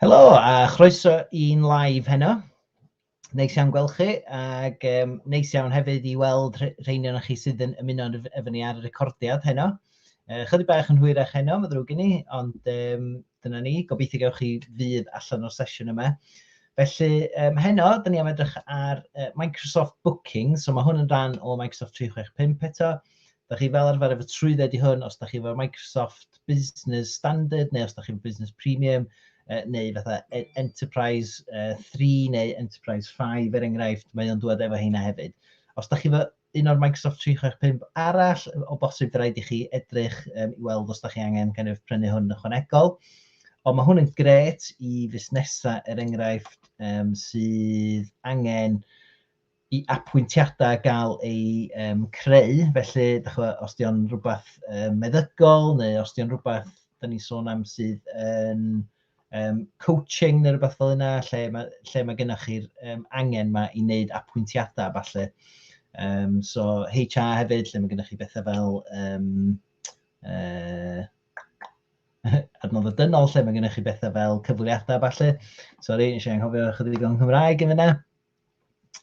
Helo a chroeso i'n live heno. Neis iawn gweld chi ac um, neis iawn hefyd i weld rheini o'n chi sydd yn ymuno efo ni ar y recordiad heno. Uh, chydig bach yn hwyrach heno, mae ddrwg i ni, ond um, dyna ni. Gobeithio gael chi fydd allan o'r sesiwn yma. Felly, um, heno, dyn ni am edrych ar uh, Microsoft Booking, so mae hwn yn rhan o Microsoft 365 eto. Dach chi fel arfer efo trwydded i hwn, os dach chi efo Microsoft Business Standard, neu os dach chi efo Business Premium, neu fatha e- Enterprise 3 neu Enterprise 5 er enghraifft, mae o'n dod efo heina hefyd. Os dach chi efo un o'r Microsoft 365 arall, o bosib rhaid i chi edrych um, i weld os dach chi angen kind of, prynu hwn ychwanegol. Ond mae hwn yn gret i fusnesau, er enghraifft, um, sydd angen i apwyntiadau gael eu um, creu, felly, da chwa, os di o'n rhywbeth um, meddygol, neu os di o'n rhywbeth, da ni'n sôn am sydd yn um, coaching neu rhywbeth fel yna, lle mae, lle mae gennych chi'r um, angen yma i wneud apwyntiadau, falle. Um, so HR hefyd, lle mae gennych chi bethau fel um, uh, adnodd y dynol, lle mae gennych chi bethau fel cyfweliadau, falle. Sorry, eisiau anghofio chydig o'n Nghymraeg yn fyna.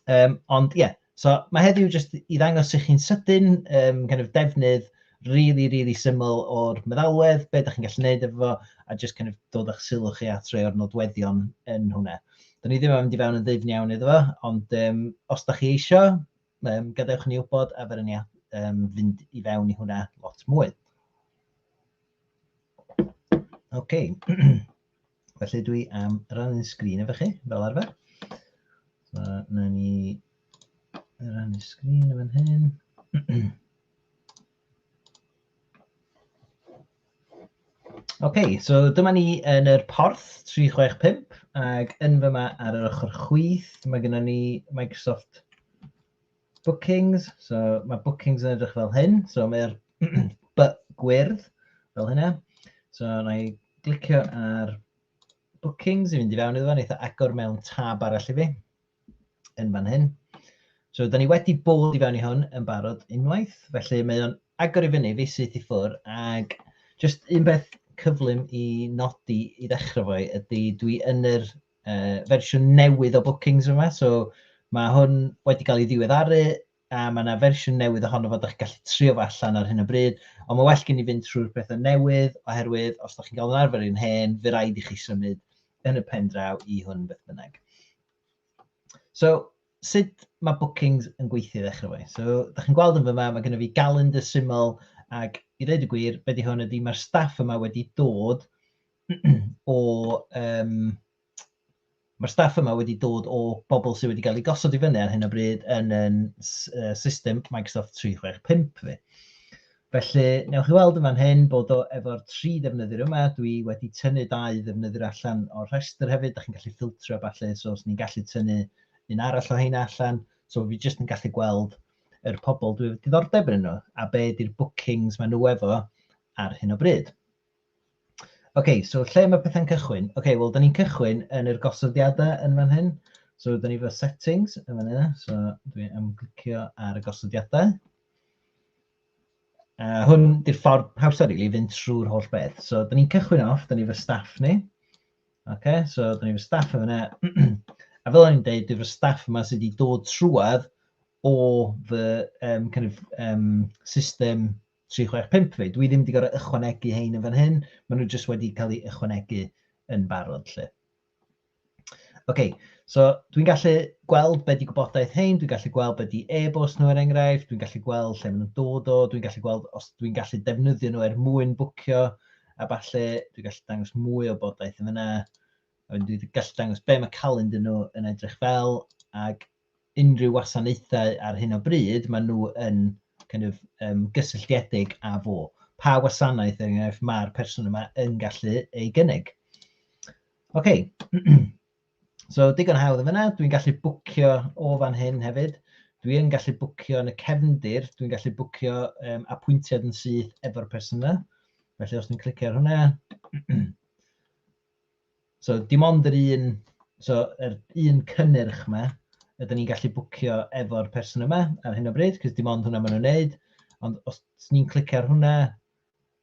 Um, ond ie, yeah. so mae heddiw jyst i ddangos i chi'n sydyn um, kind of defnydd really, really syml o'r meddalwedd, be ydych chi'n gallu gwneud efo fo, a jyst kind of dod â'ch sylw chi at rei o'r nodweddion yn hwnna. Dyna ni ddim yn mynd i fewn yn ddifn iawn iddo fo, ond um, os da chi eisiau, um, gadewch ni wybod a fer ni um, fynd i fewn i hwnna lot mwy. OK. Felly dwi am rannu'n sgrin efo chi, fel arfer. So, na ni rannu sgrin yn fan hyn. OK, so dyma ni yn yr porth 365 ac yn fyma ar yr ochr chwith mae gennym ni Microsoft Bookings, so mae bookings yn edrych fel hyn. So mae'r by gwyrdd fel hynna. So na i glicio ar bookings i fynd i fewn iddo fo, neitha agor mewn tab arall i fi yn fan hyn. So, da ni wedi bod i fewn i hwn yn barod unwaith, felly mae o'n agor i fyny fi syth i ffwr, ac just un beth cyflym i nodi i ddechrau fo ydy dwi yn yr uh, fersiwn newydd o Bookings yma, so mae hwn wedi cael ei ddiweddaru a mae yna fersiwn newydd ohono fod ydych gallu trio fo allan ar hyn o bryd, ond mae well gen i fynd trwy'r pethau newydd oherwydd os ydych chi'n cael yn arfer i'n hen, fe rhaid i chi symud yn y pen draw i hwn beth bynnag. So, sut mae bookings yn gweithio ddechrau fe? So, ydych chi'n gweld yn fyma, mae gennym fi galendr syml ac i ddweud y gwir, beth di hwn ydy, mae'r staff yma wedi dod o yym... mae'r staff yma wedi dod o bobl sydd wedi cael eu gosod i fyny ar hyn o bryd yn ein system Microsoft 365 ni. Felly, newch chi weld yn fan hyn bod o efo'r tri ddefnyddiwr yma. Dwi wedi tynnu dau ddefnyddiwr allan o'r rhestr hefyd. Da chi'n gallu ffiltro falle, so os ni'n gallu tynnu un arall o heina allan. So fi jyst yn gallu gweld yr pobl dwi wedi diddordeb yn nhw a be ydy'r bookings maen nhw efo ar hyn o bryd. OK, so lle mae pethau'n cychwyn? OK, wel, da ni'n cychwyn yn yr gosodiadau yn fan hyn. So, da ni fo settings yn fan hyn. So, dwi am glicio ar y gosodiadau. Uh, hwn di'r ffordd hawsa rili really, fynd trwy'r holl beth. So, da ni'n cychwyn off, da ni fy staff ni. OK, so da ni fy staff yn fyna. a fel o'n i'n dweud, dwi fy staff yma sydd wedi dod trwad o fy um, kind of, um, system tri chwech pump fi. Dwi ddim wedi gorfod ychwanegu hein yn fan hyn, maen nhw jyst wedi cael eu ychwanegu yn barod lle. Ok, so dwi'n gallu gweld beth di gwybodaeth hein, dwi'n gallu gweld beth di e-bost nhw er enghraifft, dwi'n gallu gweld lle maen nhw'n dod o, dwi'n gallu gweld os dwi'n gallu defnyddio nhw er mwyn bwcio a falle, dwi'n gallu dangos mwy o bodaeth yn fyna, a dwi'n gallu dangos be mae calend yn nhw yn edrych fel, ac unrhyw wasanaethau ar hyn o bryd, maen nhw yn kind of, um, gysylltiedig â fo. Pa wasanaeth, er enghraifft, mae'r person yma yn gallu ei gynnig. OK. so, digon hawdd yn fyna. Dwi'n gallu bwcio o fan hyn hefyd. Dwi'n gallu bwcio yn y cefndir. Dwi'n gallu bwcio um, apwyntiad yn syth efo'r person yna. Felly, os dwi'n clicio ar hwnna, So dim ond yr un, so yr un cynnyrch yma ydyn ni'n gallu bwcio efo'r person yma ar hyn o bryd, cos dim ond hwnna maen nhw'n neud, ond os ni'n clicio ar hwnna,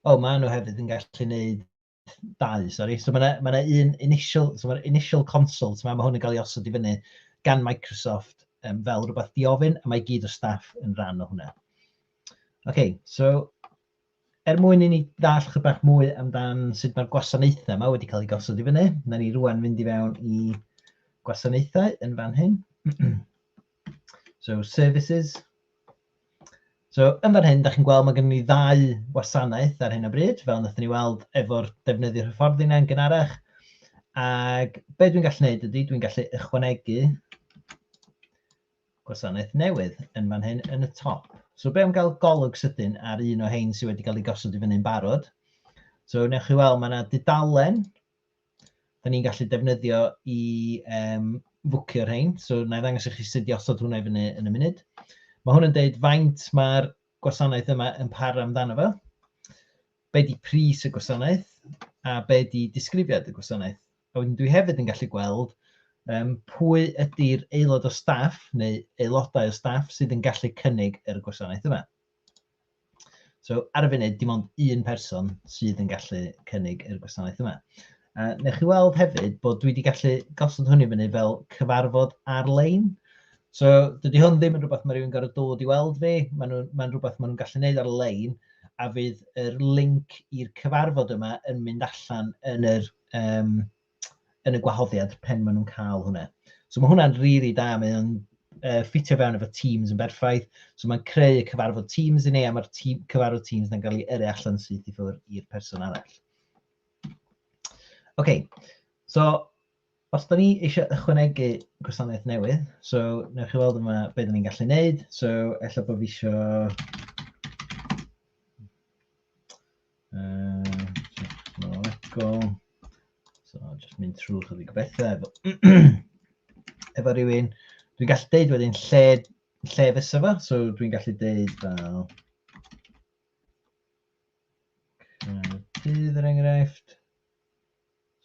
o, oh, maen nhw hefyd yn gallu neud dau, sori. So mae yna ma un initial, so mae'r initial consult yma, mae hwn yn cael ei osod i fyny gan Microsoft um, fel rhywbeth diofyn, a mae gyd o staff yn rhan o hwnna. OK, so Er mwyn i ni ddall chydig bach mwy amdan sut mae'r gwasanaethau yma wedi cael eu gosod i fyny, na ni rwan fynd i fewn i gwasanaethau yn fan hyn. so, services. So, yn fan hyn, da chi'n gweld mae gen ni ddau wasanaeth ar hyn o bryd, fel wnaethon ni weld efo'r defnyddio hyfforddi yna yn gynharach. Ac be dwi'n gallu gwneud ydy, dwi'n gallu ychwanegu gwasanaeth newydd yn fan hyn yn y top. So be am gael golwg sydyn ar un o hein sydd wedi cael ei gosod i fyny'n barod. So wnewch chi weld, mae yna dudalen da ni'n gallu defnyddio i um, fwcio rhain. So na i ddangos i chi sut i osod hwnna i fyny yn y munud. Mae hwn yn deud faint mae'r gwasanaeth yma yn par amdano fo. Be di pris y gwasanaeth a be di disgrifiad y gwasanaeth. A wedyn dwi hefyd yn gallu gweld um, pwy ydy'r aelod o staff neu aelodau o staff sydd yn gallu cynnig yr gwasanaeth yma. So ar y funud, dim ond un person sydd yn gallu cynnig yr gwasanaeth yma. Uh, newch chi weld hefyd bod dwi wedi gallu gosod hwn i fyny fel cyfarfod ar-lein. So dydy hwn ddim yn rhywbeth mae rhywun gorau dod i weld fi, mae'n ma rhywbeth maen nhw'n gallu gwneud ar-lein, a fydd yr link i'r cyfarfod yma yn mynd allan yn yr um, yn y gwahoddiad pen maen nhw'n cael hwnna. So mae hwnna'n rili really da, mae o'n uh, ffitio fewn efo Teams yn berffaith. So mae'n creu y cyfarfod Teams i ni, a mae'r team, cyfarfod Teams yn cael ei yrru allan syth i ffwrdd i'r person arall. OK, so os da ni eisiau ychwanegu gwasanaeth newydd, so newch chi weld yma beth da ni'n gallu neud. So, efallai bod fi eisiau... Technolegol. So, just mynd trwy chydig bethau efo, efo rhywun. Dwi'n gallu deud wedyn lle, lle fysa fo, so dwi'n gallu deud fel... Dydd er enghraifft.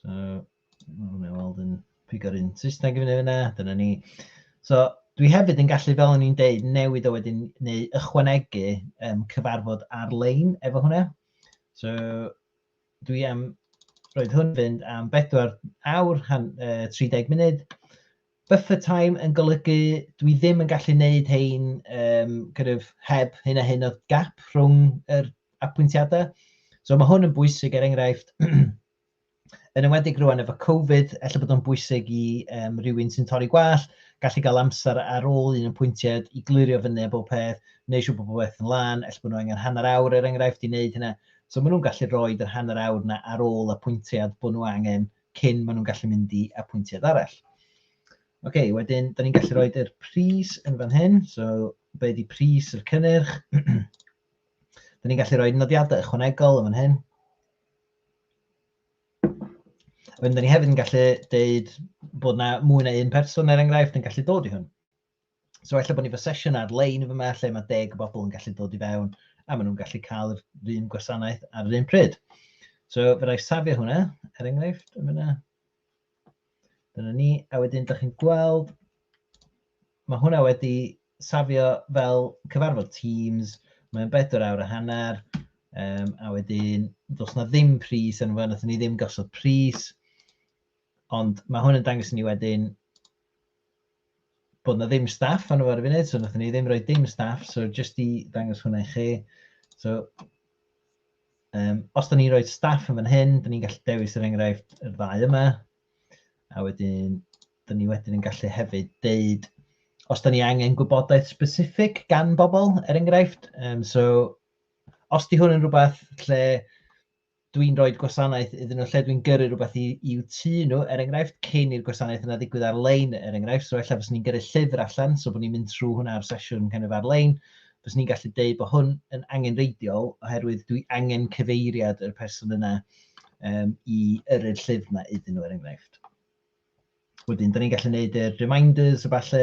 So, mae'n mynd i weld yn pigo'r un Saesneg i fyny fyna, dyna ni. So, dwi hefyd yn gallu, fel o'n i'n deud, newid o wedyn neu ychwanegu um, cyfarfod ar-lein efo hwnna. So, dwi am roed hwn fynd am 4 awr, han, uh, 30 munud, Buffer time yn golygu dwi ddim yn gallu neud hein um, kind of, heb hyn a hyn o gap rhwng yr apwyntiadau. So mae hwn yn bwysig er enghraifft, yn ymwedig rwan efo Covid, efallai bod o'n bwysig i um, rywun sy'n torri gwall, gallu cael amser ar ôl un yn pwyntiad i glirio fyny a bob peth, neu siw bod bob peth yn lan, efallai bod nhw angen hanner awr er enghraifft i wneud hynna. So maen nhw'n gallu rhoi yr hanner awr yna ar ôl y pwyntiad bod nhw angen cyn maen nhw'n gallu mynd i apwyntiad arall. OK, wedyn, da ni'n gallu rhoi yr pris yn fan hyn. So, be di pris yr cynnyrch? da ni'n gallu rhoi nodiadau ychwanegol yn fan hyn. Wedyn, da ni hefyd yn gallu deud bod na mwy na un person, er enghraifft, yn gallu dod i hwn. So ella bod ni fy sesiwn ar-lein fy lle mae deg bobl yn gallu dod i fewn a maen nhw'n gallu cael yr un gwasanaeth ar yr un pryd. So fe rai safio hwnna, er enghraifft, yn fyna. Dyna ni, a wedyn dych chi'n gweld, mae hwnna wedi safio fel cyfarfod Teams, mae'n bedwar awr a hanner, um, a wedyn dos na ddim pris yn fawr, nath ni ddim gosod pris, ond mae hwn yn dangos ni wedyn bod na ddim staff arno ar y funud, so nathon ni ddim rhoi dim staff, so jyst i ddangos hwnna i chi. So, um, os da ni'n rhoi staff yn fan hyn, da ni'n gallu dewis yr er enghraifft yr ddau yma, a wedyn, da ni wedyn yn gallu hefyd deud os da ni angen gwybodaeth specific gan bobl, er enghraifft. Um, so, os di hwn yn rhywbeth lle dwi'n rhoi gwasanaeth iddyn nhw lle dwi'n gyrru rhywbeth i, i'w tu nhw, er enghraifft, cyn i'r gwasanaeth yna ddigwydd ar-lein, er enghraifft, so efallai fes ni'n gyrru llyfr allan, so bod ni'n mynd trwy hwnna ar sesiwn kind of ar-lein, fes ni'n gallu deud bod hwn yn angenreidiol oherwydd dwi angen cyfeiriad yr person yna um, i yrru'r llyfr yna iddyn nhw, er enghraifft. Wedyn, da ni'n gallu gwneud uh, reminders a falle,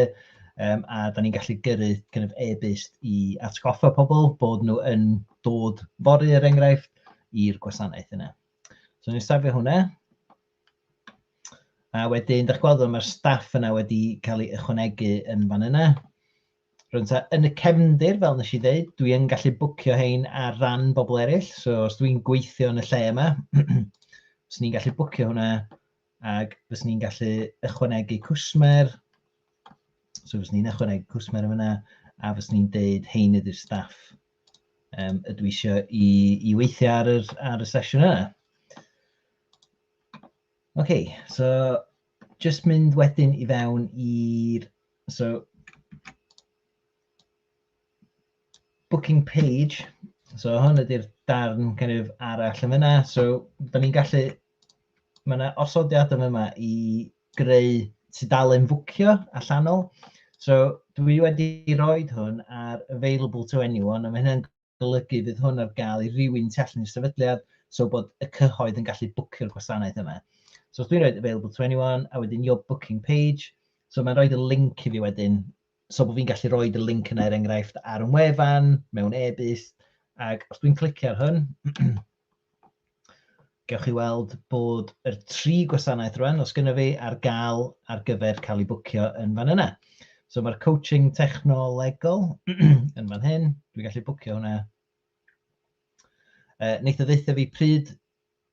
um, a da ni'n gallu gyrru kind of e-byst i atgoffa pobl bod nhw yn dod fory er enghraifft i'r gwasanaeth yna. So ni'n safio hwnna. A wedyn, da chi'n gweld mae'r staff yna wedi cael ei ychwanegu yn fan yna. Rwy'n ta, yn y cefndir, fel nes i ddeud, dwi yn gallu bwcio hein ar ran bobl eraill. So os dwi'n gweithio yn y lle yma, os ni'n gallu bwcio hwnna Ac fyswn ni'n gallu ychwanegu cwsmer. So fyswn ni'n ychwanegu cwsmer yn fyna a fyswn ni'n deud hein ydy'r staff um, ydw i eisiau i, i weithio ar, yr, ar y sesiwn yna. OK, so just mynd wedyn i fewn i'r... So, booking page. So hwn ydy'r darn kind of arall yn fyna. So, da ni'n gallu Mae yna osodiad yn yma i greu tudalen fwcio allanol. So dwi wedi rhoi hwn ar available to anyone, a mae hynny'n golygu fydd hwn ar gael i rywun tu allan i'r sefydliad, so bod y cyhoedd yn gallu bwcio'r gwasanaeth yma. So os dwi'n rhoi available to anyone, a wedyn your booking page, so mae'n rhoi y link i fi wedyn, so bod fi'n gallu rhoi y link yna er enghraifft ar yn wefan, mewn e-byst, ac os dwi'n clicio ar hwn, Gewch chi weld bod yr tri gwasanaeth rwan, os gynno fi, ar gael ar gyfer cael ei bwcio yn fan yna. So mae'r coaching technolegol yn fan hyn, dwi'n gallu bwcio hwnna. Uh, Neitho ddeitha fi pryd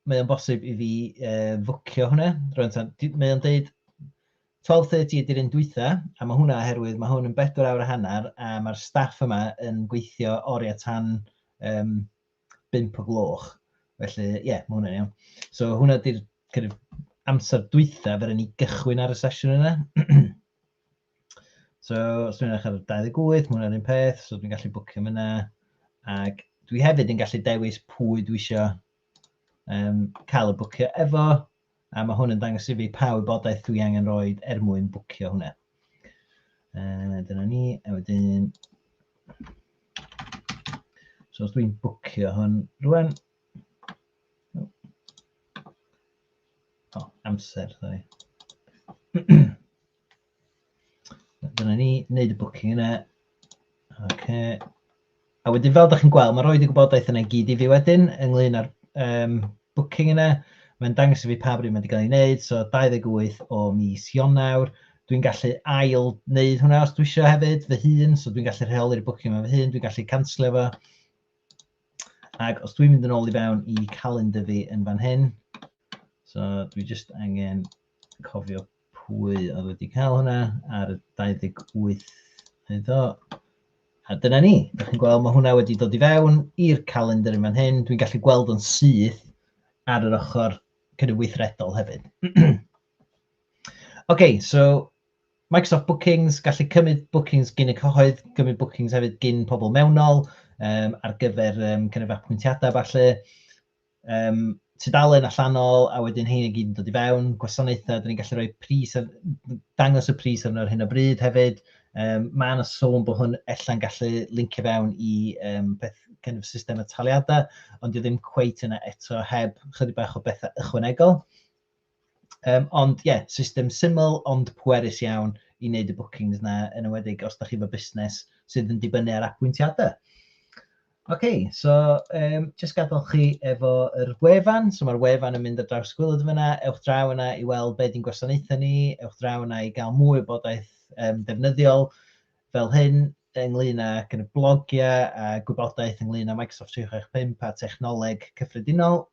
mae o'n bosib i fi uh, fwcio hwnna. Rwy'n tan, mae o'n deud 12.30 ydy'r un dwytha, a mae hwnna oherwydd mae hwn yn bedwar awr a hanner, a mae'r staff yma yn gweithio oriau tan um, bump o gloch. Felly, ie, yeah, mae hwnna'n iawn. So, hwnna ydy'r kind of, amser dwytha fer ni gychwyn ar y sesiwn yna. so, os dwi'n edrych ar 28, mae hwnna'n un peth, so dwi'n gallu bwcio yna. Ac dwi hefyd yn gallu dewis pwy dwi eisiau um, cael y bwcio efo. A mae hwn yn dangos i fi pa wybodaeth dwi angen roed er mwyn bwcio hwnna. Uh, dyna ni, a wedyn... So os dwi'n bwcio hwn rwan... O, amser, sorry. Dyna ni, wneud y booking yna. Okay. A wedyn fel ydych chi'n gweld, mae'n rhoi y gwybodaeth yna gyd i fi wedyn ynglyn â'r um, booking yna. Mae'n dangos i fi pa bryd mae wedi cael ei wneud, so 28 o mis Ionawr. Dwi'n gallu ail wneud hwnna os dwi eisiau hefyd, fy hun, so dwi'n gallu rheoli'r booking yma fy hun, dwi'n gallu canslio fo. Ac os dwi'n mynd yn ôl i fewn i calendar fi yn fan hyn, so dwi just angen cofio pwy oedd wedi cael hwnna ar y 28 oedd o. A dyna ni, ydych chi'n gweld, mae hwnna wedi dod i fewn i'r calendar yn fan hyn. Dwi'n gallu gweld o'n syth ar yr ochr cynnydd weithredol hefyd. OK, so Microsoft Bookings, gallu cymryd bookings gyn y cyhoedd, cymryd bookings hefyd gyn pobl mewnol um, ar gyfer um, cynnydd apwyntiadau falle. Um, tudalen allanol, a wedyn hyn i gyd yn dod i fewn, gwasanaethau, dyn ni'n gallu rhoi pris, ar, dangos y pris arno ar hyn o bryd hefyd. Um, mae yna sôn bod hwn ella'n gallu lincio fewn i um, beth kind of system y taliadau, ond dwi ddim cweit yna eto heb chydig bach o bethau ychwanegol. Yym, ond ie, system syml ond pwerus iawn i wneud y bookings 'na, yn enwedig os da chi efo busnes sydd yn dibynnu ar apwyntiadau. Ok, so um, jyst gadael chi efo yr wefan, so mae'r wefan yn mynd ar draws gwylod fyna, ewch draw yna i weld be di'n gwasanaethau ni, ewch draw yna i gael mwy o bodaeth um, defnyddiol fel hyn, ynglyn â gyda blogiau a gwybodaeth ynglyn â Microsoft 365 a technoleg cyffredinol.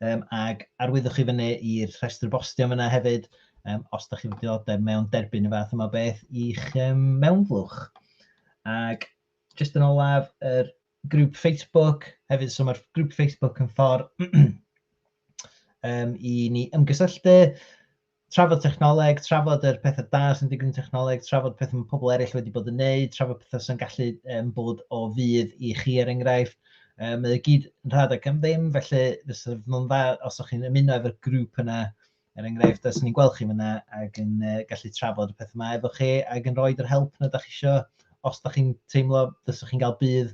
Um, ac arwyddwch chi fyny i'r rhestr bostio yna hefyd, um, os da chi'n diodeb mewn derbyn y fath yma beth i'ch um, mewnflwch. Ac jyst yn olaf, yr er grŵp Facebook hefyd, so mae'r grŵp Facebook yn ffordd um, i ni ymgysylltu, Trafod technoleg, trafod yr pethau da sy'n digwydd yn technoleg, trafod pethau mae pobl eraill wedi bod yn neud, trafod pethau sy'n gallu um, bod o fydd i chi er enghraifft. Um, mae gyd yn rhad ac am ddim, felly fysa fo'n dda os o'ch chi'n ymuno efo'r grŵp yna, er enghraifft, os ni'n gweld chi fyna ac yn uh, gallu trafod y pethau yma efo chi ac yn rhoi yr help na da chi eisiau, os da chi'n teimlo fysa chi'n cael bydd